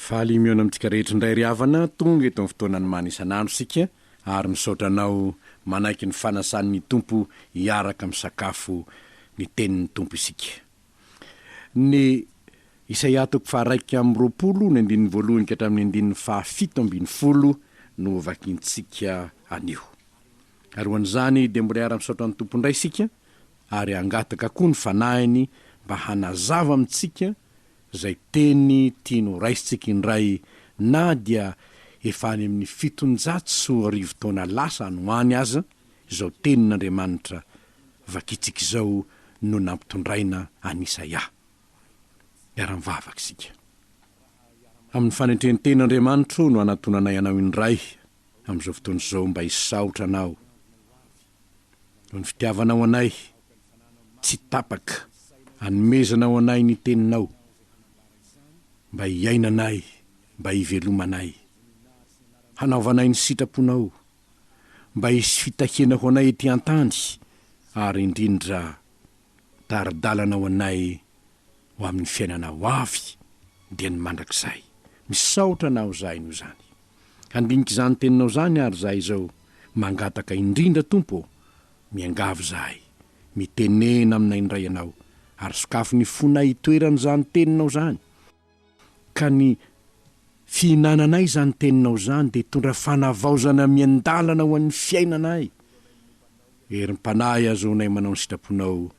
Faly mihaona amintsika rehetra indray ry havana, tonga eto amin'ny fotoanan'ny Mana isan'andro isika ary misaotra anao manaiky ny fanasan'ny Tompo hiaraka misakafo ny tenin'ny Tompo isika. Ny Isaia toko faharaika amby roapolo ny andininy voalohany ka hatramin'ny andininy fahafito ambin'ny folo no hovakintsika anio. Ary ho an'izany dia mbola hiara-misaotra ny Tompo indray isika ary hangataka koa ny Fanahiny mba hanazava amintsika izay teny tiany ho raisintsika indray na dia efa any amin'ny fitonjato sy roa arivo taona lasa any ho any aza izao tenin'Andriamanitra vakintsika izao no nampitondraina an'i Isaia. Miara-mivavaka isika. Amin'ny fanentren-tena Andriamanitro no anatonanay anao indray amin'izao fotoana izao mba hisaotra anao. Noho ny fitiavanao anay tsy tapaka, anomezanao anay ny Teninao, mba hiainanay, mba hivelomanay. Hanaovanay ny sitraponao, mba hisy fitahiana ho anay ety an-tany, ary indrindra, Tari-dalana ho anay ho amin'ny fiainana ho avy dia ny mandrakizay. Misaotra anao zahay noho izany. Handinika izany teninao izany ary zahay izao mangataka indrindra Tompo ô! Miangavy izahay, mitenena aminay indray ianao ary sokafy ny fonay hitoeran'izany teninao izany, Ka ny fihinananay izany teninao izany dia hitondra fanavaozana miandalana ho an'ny fiainanay. Herim-panahy ahazoanay manao ny sitraponao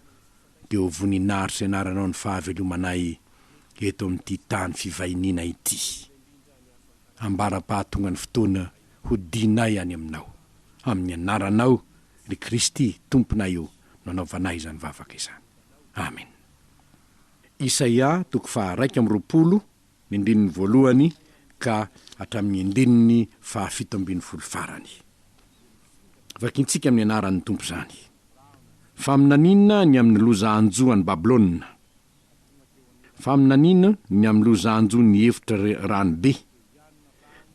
dia ho voninahitr'izay anaranao ny fahavelomanay eto amin'ity tany fivahiniana ity. Ambara-pahatonga ny fotoana hodianay any aminao. Amin'ny anaranao, ry Kristy, Tomponay ô, no anaovanay izany vavaka izany. Amena. Isaia toko faha iraika amby roapolo ny ndininy voalohany ka hatramin'ny ndininy faha fito ambin'ny folo farany. Vakintsika amin'ny anaran'ny Tompo izany. Faminaniana ny amin'ny loza hanjo an'i Babylona. Faminaniana ny amin'ny loza hanjo ny efitra rano be.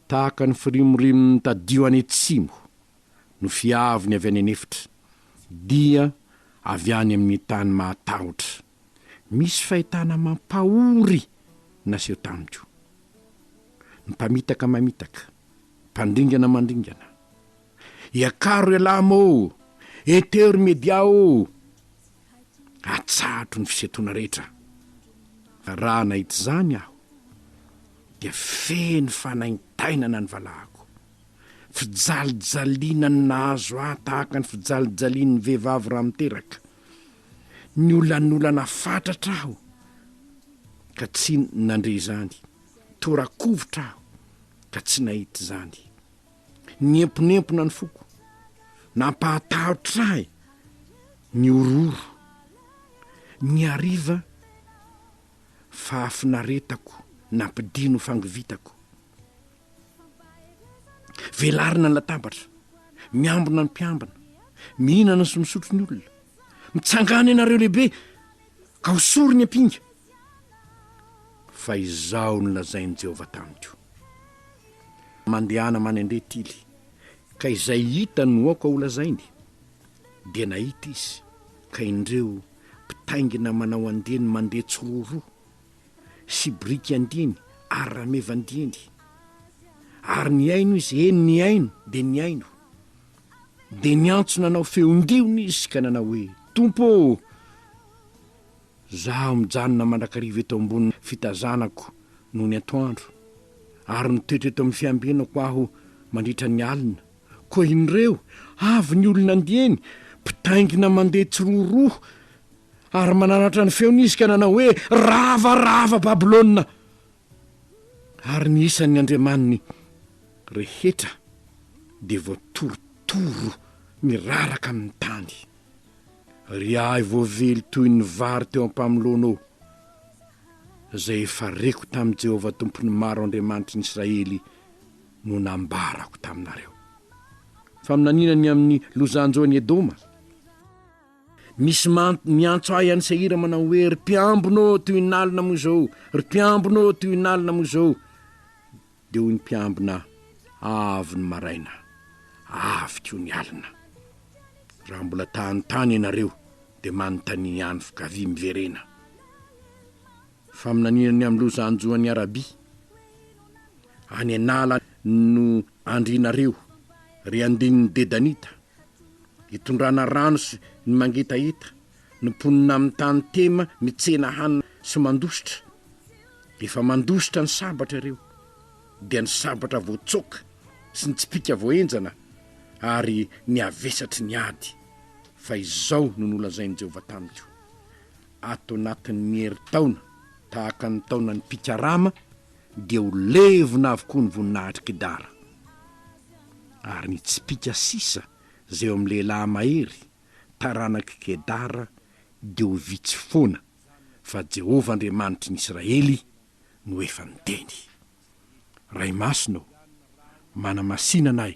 Tahaka ny firimorimo mitadio any atsimo no fiaviny avy any an'efitra, dia avy any amin'ny tany mahatahotra. Misy fahitana mampahory naseho tamiko. Ny mpamitaka mamitaka, mpandringana mandringana. Iakaro ialahy mô! Eteho ry media ô! Atsahatro ny fisentoana rehetra. Raha nahita izany aho dia feno fanaintainana ny valahako. Fijalijaliana ny nahazo ahy tahaka ny fijalijalian'ny vehivavy raha miteraka. Niolanolana fatratra aho ka tsy nandre izany, tora-kovitra aho ka tsy nahita izany. Niemponempona ny foko, nampahatahotra ahy ny horohoro. Ny hariva, fahafinaretako nampidino fangovitako. Velarina ny latabatra, miambina ny mpiambina, mihinana sy misotro ny olona. Mitsangàna ianareo lehibe ka hosory ny ampinga. Fa izao no lazain'i Jehovah tamiko, Mandehana manendré tily, ka izay hitany no aoka holazainy. Dia nahita izy, ka indreo, mpitaingina manao andiany mandeha tsiroroa. sy biriky andiany ary rameva andiany ary nihaino izy, eny nihaino dia nihaino. Dia niantso nanao feon-diony izy ka nanao hoe, Tompo ô! Zaho mijanona mandrakariva eto ambony fitazanako nony antoandro, ary mitoetra eto amin'ny fiambenako aho mandritra ny alina, Koa inreo, avy ny olona andiany, mpitaingina mandeha tsiroroha. Ary mananatra ny feony izy ka nanao hoe, Rava, rava Babylona! Ary ny isan'ny andriamaniny rehetra dia voatorotoro miraraka amin'ny tany. Ry ahy voavely toy ny vary teo am-pamoloanao, izay efa reko tamin'i Jehovah Tompon'ny Maro Andriamanitry ny Israely no nambarako taminareo. Faminaniana ny amin'ny lozan-joan'i Edoma. Misy miantso ahy any Seira manao hoe, Ry mpiambina ô, tohin'alina moa izao, ry mpiambina ô, tohin'alina moa izao. Dia hoy ny mpiambina, Avy ny maraina, avy koa ny alina. Raha mbola ta hanontany ianareo, dia manontania ihany, f'gavia miverena. Faminaniana ny amin'ny loza hanjo an'i Arabia. Any an'ala no andrianareo, ry andinin'ny Dedanita. Itondrana rano sy ny mangetaheta, ny mponina amin'ny tany Tema mitsena hanina sy mandositra. Efa mandositra ny sabatra ireo, dia ny sabatra voatsoaka sy ny tsipìka voahenjana ary ny havesatry ny ady, fa izao no nolazain'i Jehovah tamiko, ato anatin'ny ny herintaona tahaka ny taonan'ny mpikarama dia ho levona avokoa ny voninahitry Kidara ary hitsipika sisa izay eo amin'ny lehilahy mahery taranak'i Kedara dia ho vitsy foana fa Jehovah Andriamanitry ny Israely no efa niteny. Ray Masina ô, manamasina anay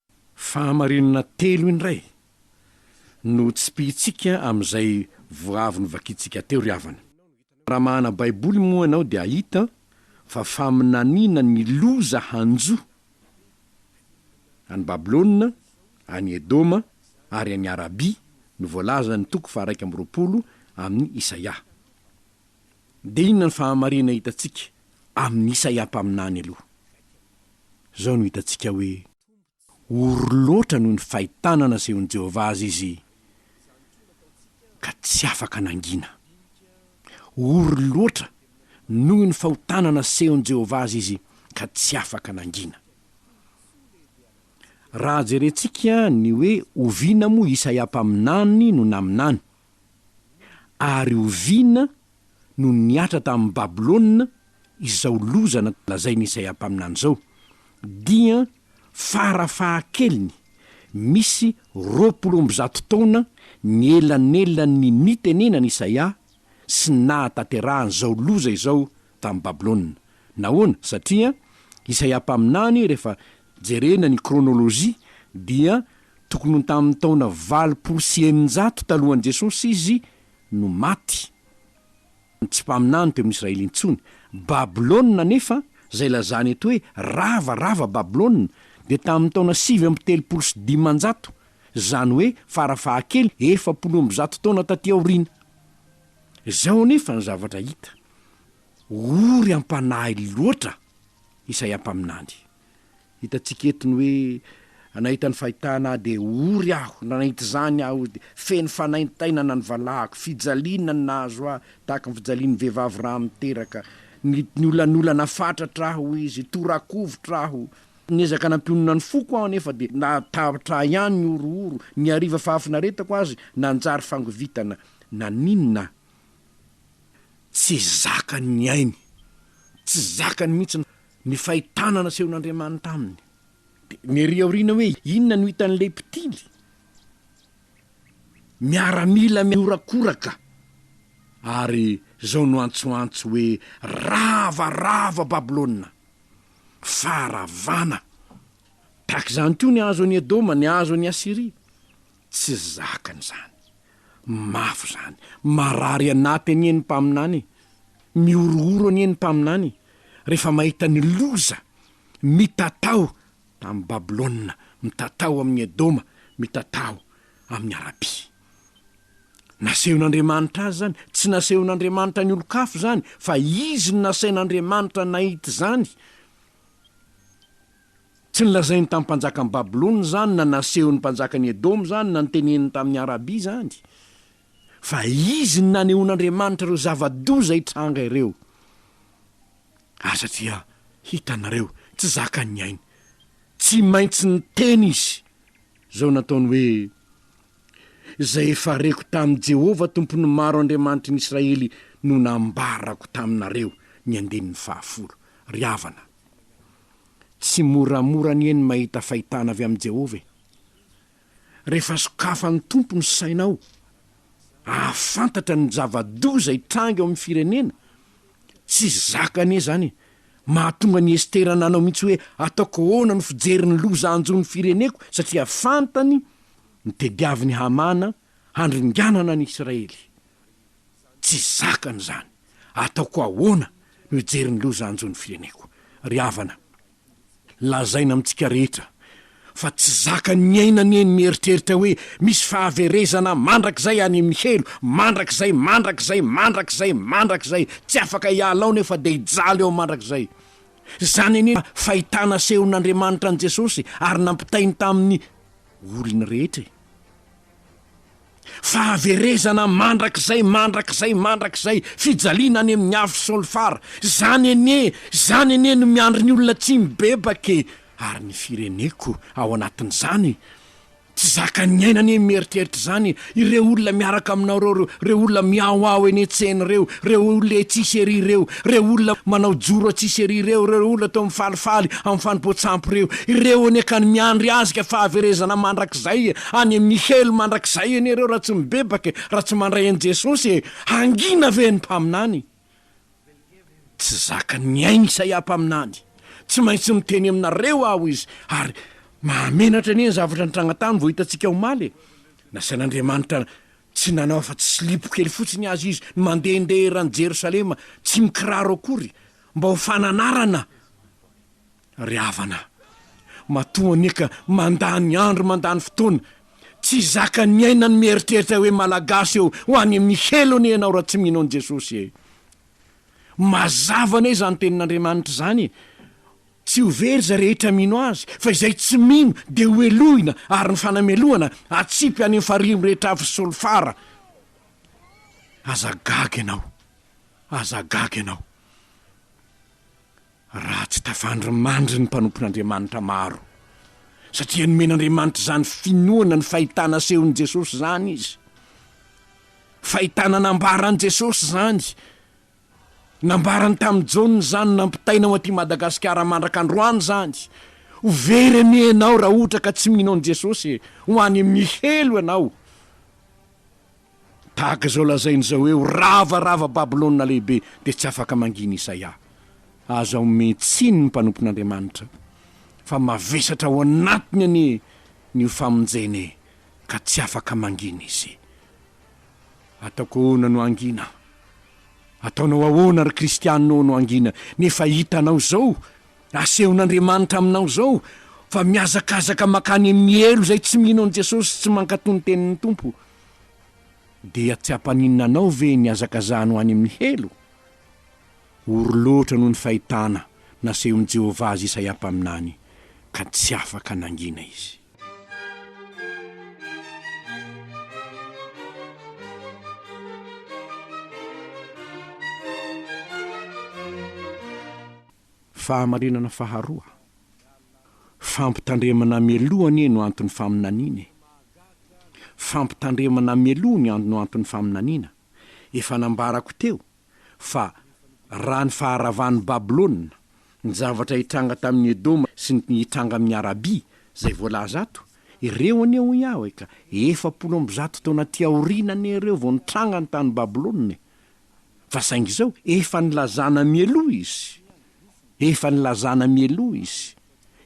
Fahamarinana telo indray no tsipihintsika amin'izay vao avy novakintsika teo ry havana. Raha mahana Baiboly moa ianao dia hahita fa faminaniana ny loza hanjo an'i Babylona, an'i Edoma ary an'i Arabia no voalazan'ny toko faharaika amby roapolo amin'i Isaia. Dia inona ny fahamarina hitantsika amin'i Isaia mpaminany aloha? Izao no hitantsika hoe ory loatra noho ny fahitana nasehon'i Jehovah azy izy, ka tsy afaka nangina. Ory loatra noho ny fahotana nasehon'i Jehovah azy izy, ka tsy afaka nangina. Raha jerentsika ny hoe oviana moa Isaia mpaminany no naminany, Ary oviana no nihatra tamin'i Babylona izao loza nolazain'i Isaia mpaminany izao? Dia fara fahakeliny, misy roapolo amby zato taona ny elanelan'ny nitenenan'i Isaia sy nahatanterahany izao loza izao tamin'i Babylona. Nahoana? Satria Isaia mpaminany, rehefa jerena ny krônôlôjia, dia tokony ho tamin'ny taona valopolo sy eninjato talohan'i Jesosy izy no maty. Tsy mpaminany teo amin'ny Israely intsony. Babylona anefa, izay lazany eto hoe rava, rava Babylona, dia tamin'ny taona sivy amby telopolo sy dimanjato, izany hoe fara-fahakely efapolo amby zato taona tatỳ aoriana. Izao anefa ny zavatra hita. ory am-panahy loatra Isaia mpaminany. Hitantsika eto ny hoe nahita ny fahitana ahy dia ory aho, na nahita izany aho dia feno fanaintainana ny valahako, fijaliana no nahazo ahy tahaka ny fijalian'ny vehivavy raha miteraka, niolanolana fatratra aho, hoy izy, tora-kovitra aho. Niezaka nampionona ny foko aho anefa dia nahatahatra ahy ihany ny horohoro, ny hariva fahafinaretako azy nanjary fangovitana. Naninona Tsy zakany ny ainy, tsy zakany mihitsy ny fahitana nasehon'Andriamanitra aminy. Dia ny ery aoriana hoe inona no hitan'ilay mpitily? Miaramila mihorakoraka ary izao no antsoantso hoe, Rava, rava Babylona! Faharavana! Tahaka izany koa ny hazo an'i Edoma, ny hazo an'i Asyria. Tsy zakany izany. Mafy izany. Marary anaty anie ny mpaminany e! Mihorohoro anie ny mpaminany rehefa mahita ny loza mitatao amin'i Babylona, mitatao amin'i Edoma, mitatao amin'i Arabia. Nasehon'Andriamanitra azy izany? Tsy nasehon'Andriamanitra ny olon-kafa izany, fa izy no nasain'Andriamanitra nahita izany. Tsy nolazainy tamin'ny mpanjakan'i Babylona izany, na nasehon'ny mpanjakan'i Edoma izany, na noteneniny tamin'i Arabia izany, fa izy no nanehoan'Andriamanitra ireo zava-doza hitranga ireo. Aza dia hitanareo, tsy zakan'ny ainy. Tsy maintsy niteny izy izao nataony hoe, Izay efa reko tamin'i Jehovah, Tompon'ny maro Andriamanitry ny Israely, no nambarako taminareo, ny andininy fahafolo. Ry havana, Tsy moramora anie ny mahita fahitana avy amin'i Jehovah e! Rehefa sokafan'ny Tompo ny sainao hahafantatra ny zava-doza hitranga eo amin'ny firenena, tsy zaka anie izany e! Mahatonga an'i Estera nanao mihitsy hoe, 'Ataoko ahoana no fijery ny loza hanjo ny fireneko, satria fantany ny tadiavin'i Hamana handringanana an'i Israely? Tsy zakany izany. Ataoko ahoana no hijery ny loza hanjo ny fireneko? Ry havana, lazaina amintsika rehetra fa tsy zakany ny aina anie ny mieritreritra hoe misy fahaverezana mandrakizay any amin'ny helo, mandrakizay, mandrakizay, mandrakizay, mandrakizay, tsy afaka hiala ao nefa dia hijaly ao mandrakizay. Izany anie fahitana asehon'Andriamanitra an'i Jesosy ary nampitainy tamin'ny olony rehetra e! Fahaverezana mandrakizay, mandrakizay, mandrakizay, fijaliana any amin'ny afo solfara. Izany anie, izany anie no miandry ny olona tsy mibebaka e! Ary ny fireneko ao anatin'izany? Tsy zakan'ny aina anie ny mieritreritra izany e! Ireo olona miaraka aminao ireo, ireo olona mihaoao eny an-tsena ireo, ireo olona etsy sy ery ireo, ireo olona manao joro atsy sy ery ireo, ireo olona toa mifalifaly amin'ny fanompoan-tsampy ireo, ireo anie ka no miandry azy ka fahaverezana mandrakizay e! any amin'ny helo mandrakizay ianareo raha tsy mibebaka e, raha tsy mandray an'i Jesosy e, hangina ve ny mpaminany? Tsy zakan'ny ainy Isaia mpaminany, tsy maintsy miteny aminareo aho izy, ary mahamenatra anie ny zavatra nitranga tany vao hitantsika omaly e, nasain'Andriamanitra tsy nanao afa-tsy silipo kely fotsiny azy izy ny mandehandeha eran'i Jerosalema tsy mikiraro akory mba ho fananarana Ry havana, matoa anie ka mandany andro mandany fotoana, tsy zakan'ny aina ny mieritreritra hoe Malagasy eo ho any amin'ny helo anie ianao raha tsy mino an'i Jesosy e! Mazava anie izany tenin'Andriamanitra izany e! Tsy ho very izay rehetra mino Azy, fa izay tsy mino dia ho helohina ary ny fanamelohana hatsipy any amin'ny farihy mirehitra afo sy solifara. Aza gaga ianao, aza gaga ianao. Raha tsy tafandry mandry ny mpanompon'Andriamanitra maro, satria nomen'Andriamanitra izany finoana ny fahitana asehon'i Jesosy izany izy. Fahitana nambaran'i Jesosy izany. Nambarany tamin'i Jaona izany nampitaina ho aty Madagasikara mandrak'androany izany. Ho very anie ianao raha ohatra ka tsy mino an'i Jesosy e! Ho any amin'ny helo ianao. Tahaka izao lazainy izao hoe, Ho rava, rava Babylona Lehibe, dia tsy afaka mangina Isaia. Aza omen tsiny ny mpanompon'Andriamanitra, fa mavesatra ao anatiny anie ny ho famonjena e, ka tsy afaka mangina izy. Ataoko ahoana no hangina? Ataonao ahoana ry kristiana ô no hangina, nefa hitanao izao Asehon'Andriamanitra aminao izao fa mihazakazaka mankany amin'ny helo izay tsy mino an'i Jesosy sy tsy mankatò ny tenin'ny Tompo. Dia tsy hampaninona anao ve ny hazakazahanao any amin'ny helo? Ory loatra noho ny fahitana nasehon'i Jehovah azy Isaia mpaminany, ka tsy afaka nangina izy. Fahamarinana faharoa, Fampitandremana mialoha anie no anton'ny faminaniana e! Fampitandremana mialoha ny an no anton'ny faminaniana, efa nambarako teo fa raha ny faharavan'i Babylona, ny zavatra hitranga tamin'i Edoma sy ny hitranga amin'i Arabia, izay voalaza ato, ireo anie hoy aho e ka efapolo amby zato taona aty aoriana anie ireo vao nitranga ny tany Babylona e! Fa saingy izao, efa nilazana mialoha izy. Efa nilazana mialoha izy.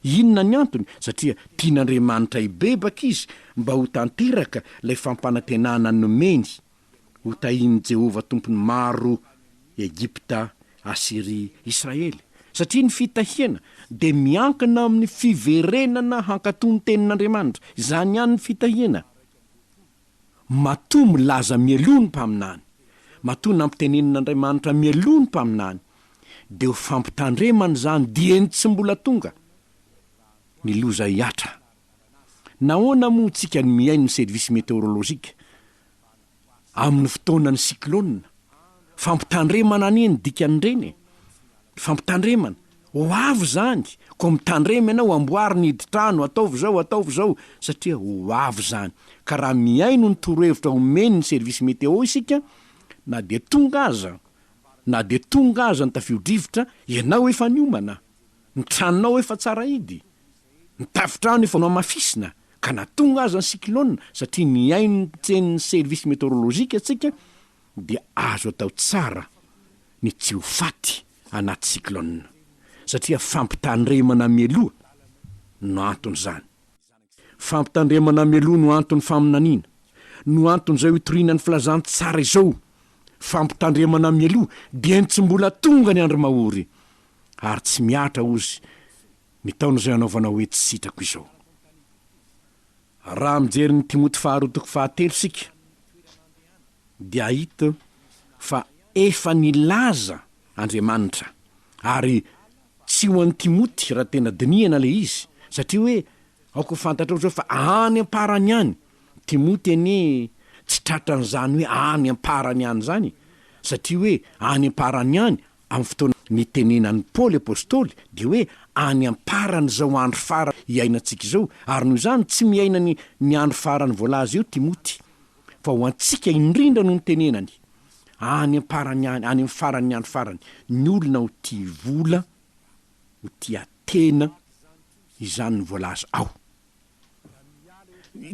Inona ny antony? Satria tian'Andriamanitra hibebaka izy mba ho tanteraka ilay fampanantenana nomeny, ho tahian'i Jehovah Tompon'ny maro, Egypta, Asyria, Israely. Satria ny fitahiana dia miankina amin'ny fiverenana hankatò ny Tenin'Andriamanitra. Izany ihany ny fitahiana. Matoa milaza mialoha ny mpaminany, matoa nampitenenin'Andriamanitra mialoha ny mpaminany, dia ho fampitandremana izany dieny tsy mbola tonga ny loza hihatra. Nahoana moa isika no mihaino ny service meteorologique amin'ny fotoanan'ny cyclone? Fampitandremana anie ny dikan'ireny e! Fampitandremana! Ho avy izany, koa mitandrema ianao, amboary ny hidin-trano, ataovy izao, ataovy izao, satria ho avy izany. Ka raha mihaino ny torohevitra omen'ny service météo isika, na dia tonga aza, na dia tonga aza ny tafio-drivotra, ianao efa niomana, ny tranonao efa tsara hidy, ny tafon-trano efa nohamafisina, ka na tonga aza ny cyclone, satria mihaino ny teny ny service météorologique tsika, dia azo atao tsara ny tsy ho faty anaty cyclone satria fampitandremana mialoha no anton'izany. Fampitandremana mialoha no anton'ny faminaniana, no anton'izao hitoriana ny filazantsara izao. Fampitandremana mialoha dieny tsy mbola tonga ny andro mahory ary tsy mihatra ozy ny taona izay anaovana hoe tsy sitrako izao. Raha mijery ny Timoty faharoa toko fahatelo isika dia hahita fa efa nilaza Andriamanitra ary tsy ho an'i Timoty raha tena dinihana ilay izy satria hoe aoka ho fantatrao izao fa any am-parany any, Timoty anie tsy tratran'izany hoe any am-parany any izany satria hoe any am-parany any Amin'ny fotoana nitenenan'i Paoly apostoly dia hoe any am-paran'izao andro farany iainantsika izao, ary noho izany tsy miaina ny ny andro farany voalaza eo Timoty, fa ho antsika indrindra no nitenenany, any am-parany any, any amin'ny faran'ny andro farany, ny olona ho tia vola, ho tia tena, izany no voalaza ao.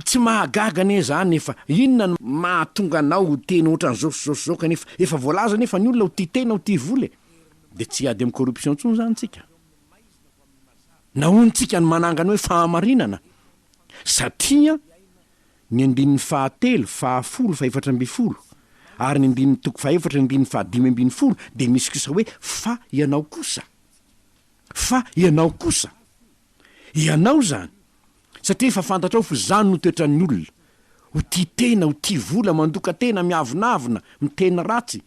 Tsy mahagaga anie zany nefa inona no mahatonga anao ho teny ohatran'izao sy zao sy zao kanefa efa voalaza nefa ny olona ho tia tena ho tia vola e! De tsy hiady amin'ny corruption intsony zany tsika? Nahoan tsika no manangana hoe fahamarinana? Satria ny andininy fahatelo, fahafolo, fahefatra ambin'ny folo ary ny andininy toko fahefatra, ny andininy fahadimy ambin'ny folo dia misy kosa hoe fa ianao kosa. Fa ianao kosa. Ianao izany, satria efa fantatrao fa izany no toetran'ny olona, ho tia tena, ho tia vola, mandoka tena, miavonavona, miteny ratsy.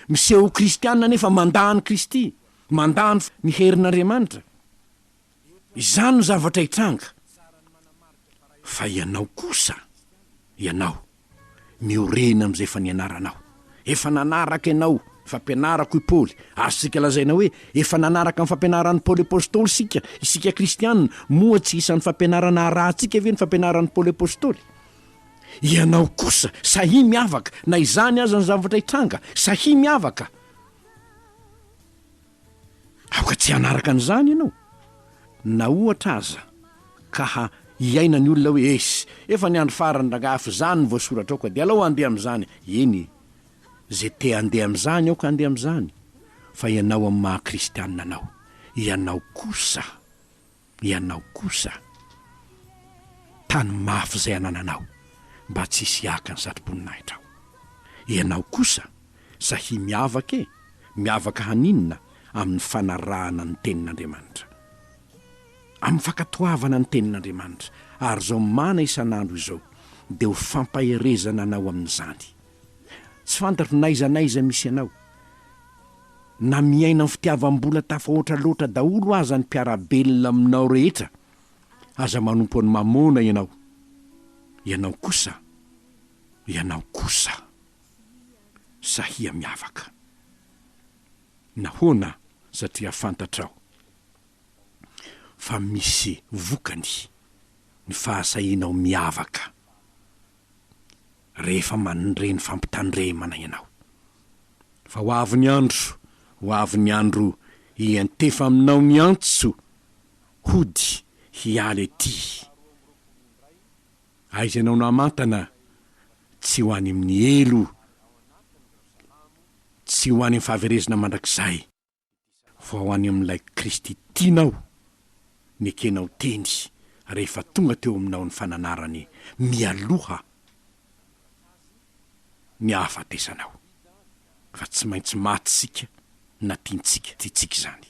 Miseho ho kristiana nefa mandà an'i Kristy, mandà ny herin'Andriamanitra. Izany no zavatra hitranga. Fa ianao kosa, ianao. Miorina amin'izay efa nianaranao. Efa nanaraka ianao ny fampianarako i Paoly, ary isika lazaina hoe efa nanaraka ny fampianaran'i Paoly Apostoly isika. Isika kristiana, moa tsy isan'ny fampianarana arahantsika ve ny fampianaran'i Paoly Apostoly? Ianao kosa, sahia miavaka, na izany aza ny zavatra hitranga, sahia miavaka. Aoka tsy hanaraka an'izany ianao. Na ohatra aza ka hiaina ny olona hoe, Eish, efa ny andro farany rangahy fa izany no voasoratrao ka dia alao handeha amin'izany. Eny e! Izay te handeha amin'izany aoka handeha amin'izany, fa ianao amin'ny maha-kristianina anao, ianao kosa. Ianao kosa, tany mafy izay anananao, mba tsy hisy haka ny satroboninahitranao. Ianao kosa, sahia miavaka e! Miavaka haninona amin'ny fanarahana ny Tenin'Andriamanitra? Amin'ny fankatoavana ny Tenin'Andriamanitra, ary izao mana isan'andro izao dia ho fampaherezana anao amin'izany. Tsy fantatro na aiza na aiza misy anao, na miaina amin'ny fitiavam-bola tafahoatra loatra daholo aza ny mpiara-belona aminao rehetra, aza manompo an'i Mamôna ianao. Ianao kosa, ianao kosa, sahia miavaka. Nahoana? Satria fantatrao fa misy vokany ny fahasahianao miavaka. rehefa mandre ny fampitandremana ianao. Fa ho avy ny andro, ho avy ny andro hiantefa aminao ny antso hody hiala ety. Aiza ianao namantana tsy ho any amin'ny helo, tsy ho any amin'ny fahaverezana mandrakizay. Vao any amin'ilay Kristy tianao nekenao teny rehefa tonga teo aminao ny fananarany mialoha ny hahafatesanao. Fa tsy maintsy maty isika na tiantsika tiantsika izany.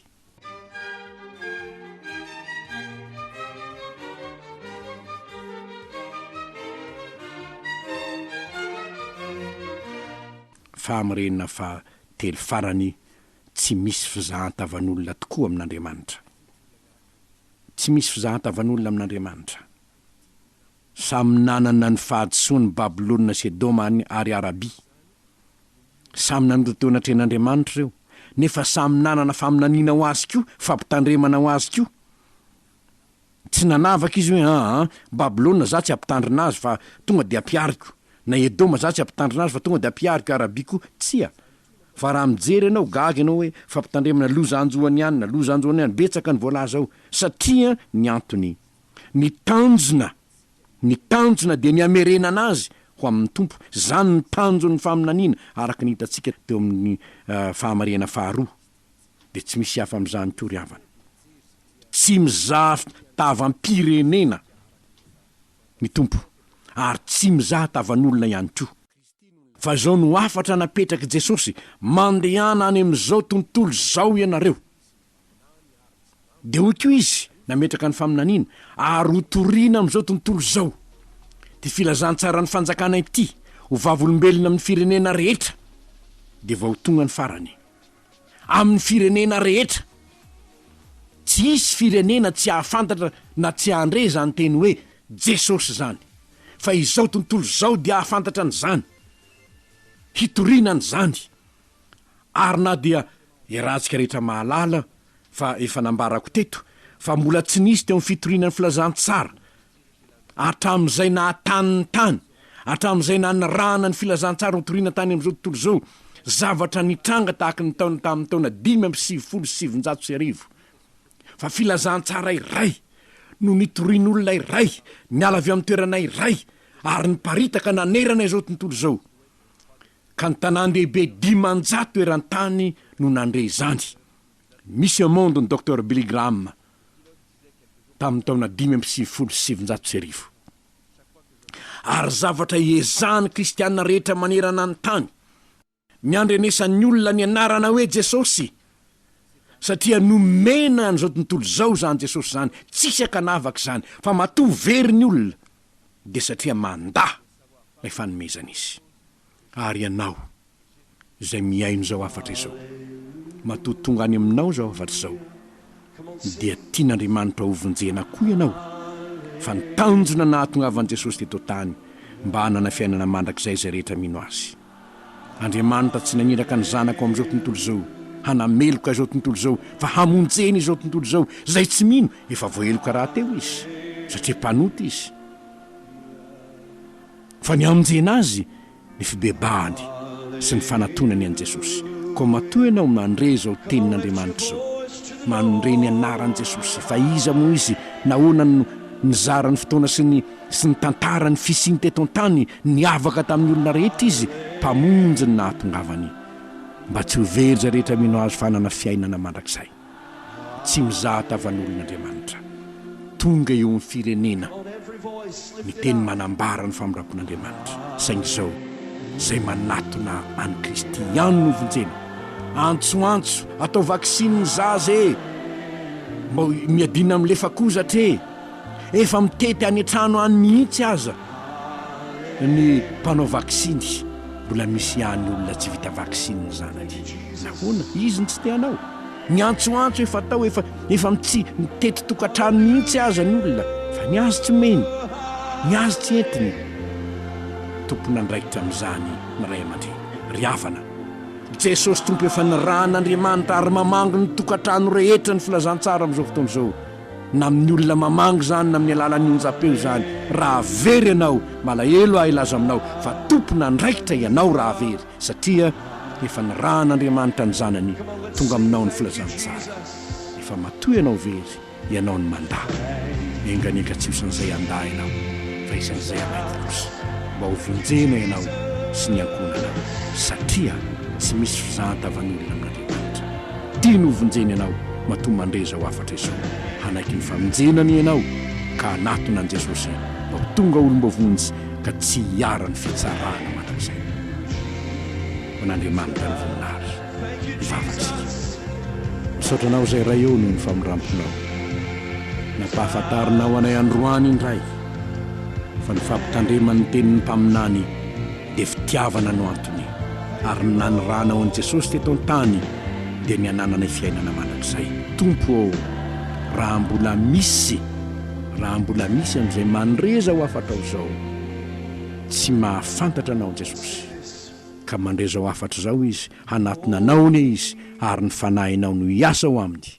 Fahamarinana fahatelo farany tsy misy fizahan-tavan'olona tokoa amin'Andriamanitra. Tsy misy fizahan-tavan'olona amin'Andriamanitra. Samy nanana ny fahadisoany Babylona sy Edoma any ary Arabia. Samy nanota teo anatrehan'Andriamanitra ireo, nefa samy nanana faminaniana ho Azy koa, fampitandremana ho Azy koa. Tsy nanavaka izy hoe, Aa, Babylona, za tsy hampitandrina azy fa tonga dia hampihariko, na Edoma, za tsy hampitandrina azy fa tonga dia hampihariko Arabia koa. Tsia. Fa raha mijery ianao, gaga ianao hoe, Fampitandremana, loza hanjo an'i an, na loza hanjo an'i an, betsaka ny voalaza ao. Satria ny antony. Ny tanjona. Ny tanjona dia ny hamerenana azy ho amin'ny Tompo. Izany ny tanjon'ny faminaniana, araka ny hitantsika teo amin'ny Fahamarihana faharoa. dia tsy misy hafa amin'izany koa ry havana. Tsy mizaha fitavam-pirenena ny Tompo ary tsy mizaha tavan'olona ihany koa. Fa izao no hafatra napetrak'i Jesosy, Mandehana any amin'izao tontolo izao ianareo. Dia hoy koa Izy nametraka ny faminaniana, Ary hotorina amin'izao tontolo izao ity filazantsaran'ny fanjakana ity ho vavolombelona amin'ny firenena rehetra, dia vao tonga ny farany. amin'ny firenena rehetra. Tsy hisy firenena tsy hahafantatra na tsy hahandre izany teny hoe Jesosy izany. Fa izao tontolo izao dia hahafantatra an'izany. Hitoriana an'izany. Ary na dia iarahantsika rehetra mahalala fa efa nambarako teto fa mbola tsy nisy teo amin'ny fitoriana ny filazantsara, Hatramin'izay naha-tany ny tany, hatramin'izay nanirahana ny filazantsara hotorina tany amin'izao tontolo izao, zavatra nitranga tahaka ny ntaona tamin'ny taona dimy amby sivifolo sy sivinjato sy arivo. Fa filazantsara iray no nitorian'olona iray niala avy amin'ny toerana iray ary niparitaka nanerana izao tontolo izao, ka ny tanàn-dehibe dimanjato eran-tany no nandre izany. Misy emon'ny Doctor Billy Graham. tamin'ny taona dimy amby sivifolo sy sivinjato sy arivo. Ary zavatra iezahan'ny kristiana rehetra manerana ny tany ny andrenesan'ny olona ny anarana hoe Jesosy, satria nomena an'izao tontolo izao izany Jesosy izany, tsisy ankanavaka izany, fa matoa very ny olona dia satria mandà ilay fanomezana izy. Ary ianao? izay mihaino izao hafatra izao. Matoa tonga any aminao izao hafatra izao, dia tian'Andriamanitra hovonjena koa ianao, fa ny tanjona nahatongavan'i Jesosy teto an-tany mba hanana fiainana mandrakizay izay rehetra mino Azy. Andriamanitra tsy naniraka ny zanaka ao amin'izao tontolo izao hanameloka izao tontolo izao, fa hamonjena izao tontolo izao. Izay tsy mino, efa voaheloka rahateo izy, satria mpanota izy. Fa ny hamonjena azy, ny fibebahany sy ny fanatonany an'i Jesosy. Koa matoa ianao mandre izao tenin'Andriamanitra izao, mandre ny anaran'i Jesosy, fa iza moa izy, nahoana no nizara ny fotoana sy ny sy nitantara ny fisiany teto an-tany, niavaka tamin'ny olona rehetra izy, Mpamonjy ny nahatongavany, mba tsy ho very izay rehetra mino Azy fa hanana fiainana mandrakizay. tsy mizaha tavan'olon'Andriamanitra. Tonga eo amin'ny firenena ny teny manambara ny famindram-pon'Andriamanitra, saingy izao, izay manatona an'i Kristy ihany no vonjena. Antsoantso, Atao vaksiny ny zaza e! Mbao miadiana amin'ny lefakozatra e! Efa mitety any an-trano any mihitsy aza ny mpanao vaksiny. Mbola misy ihany olona tsy vita vaksiny ny zanany. Nahoana? Izy no tsy te hanao. Ny antsoantso efa atao efa efa mitsy mitety tokantrano mihitsy aza ny olona fa ny azy tsy mino, ny azy tsy entiny. Tompon'andraikitra amin'izany ny ray aman-dreny. Ry havana, Jesosy Tompo efa nirahan'Andriamanitra ary mamangy ny tokantrano rehetra ny filazantsara amin'izao fotoana izao. na amin'ny olona mamangy izany na amin'ny alalan'ny onjam-peo izany, raha very ianao, malahelo aho hilaza aminao fa tompon'andraikitra ianao raha very, satria efa nirahan'Andriamanitra ny Zanany tonga aminao ny filazantsara. Efa matoa ianao very, ianao no mandà. Mienganenga tsy osan'izay handà ianao, fa isan'izay hamaky kosa, mba ho vonjena ianao sy ny ankohonanao, satria tsy misy fizahan-tavan'olona amin'Andriamanitra. Tiany ho vonjena ianao matoa mandre izao hafatra izao. Hanaiky ny famonjenany ianao ka hanatona an'i Jesosy mba ho tonga olom-boavonjy ka tsy hiharan'ny fitsarana mandrakizay. Ho an'Andriamanitra ny voninahitra. Mivavaka isika. Misaotra anao izay Ray ô noho ny famindramponao. Nampahafantarinao anay androany indray fa ny fampitandreman'ny tenin'ny mpaminany, dia fitiavana no antony, ary ny nanirahanao an'i Jesosy teto an-tany dia ny hanananay fiainana mandrakizay. Tompo ô, raha mbola misy, raha mbola misy amin'izay mandre izao hafatrao izao, tsy mahafantatra Anao Jesosy, ka mandre izao hafatra izao izy, hanatona Anao anie izy, ary ny Fanahinao no hiasa ao aminy,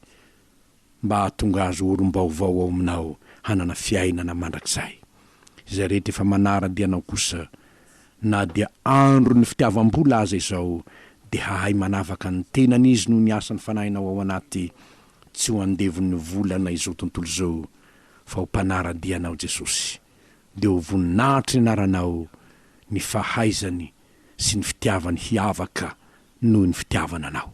mba hahatonga azy ho olom-baovao ao Aminao hanana fiainana mandrakizay. Izay rehetra efa manara-dia Anao kosa, na dia andron'ny fitiavam-bola aza izao, dia hahay manavaka ny tenany izy noho ny asan'ny Fanahinao ao anaty, tsy ho andevon'ny volana izao tontolo izao, fa ho mpanara-dia Anao Jesosy. Dia ho voninahitry ny Anaranao ny fahaizany sy ny fitiavany hiavaka noho ny fitiavana Anao.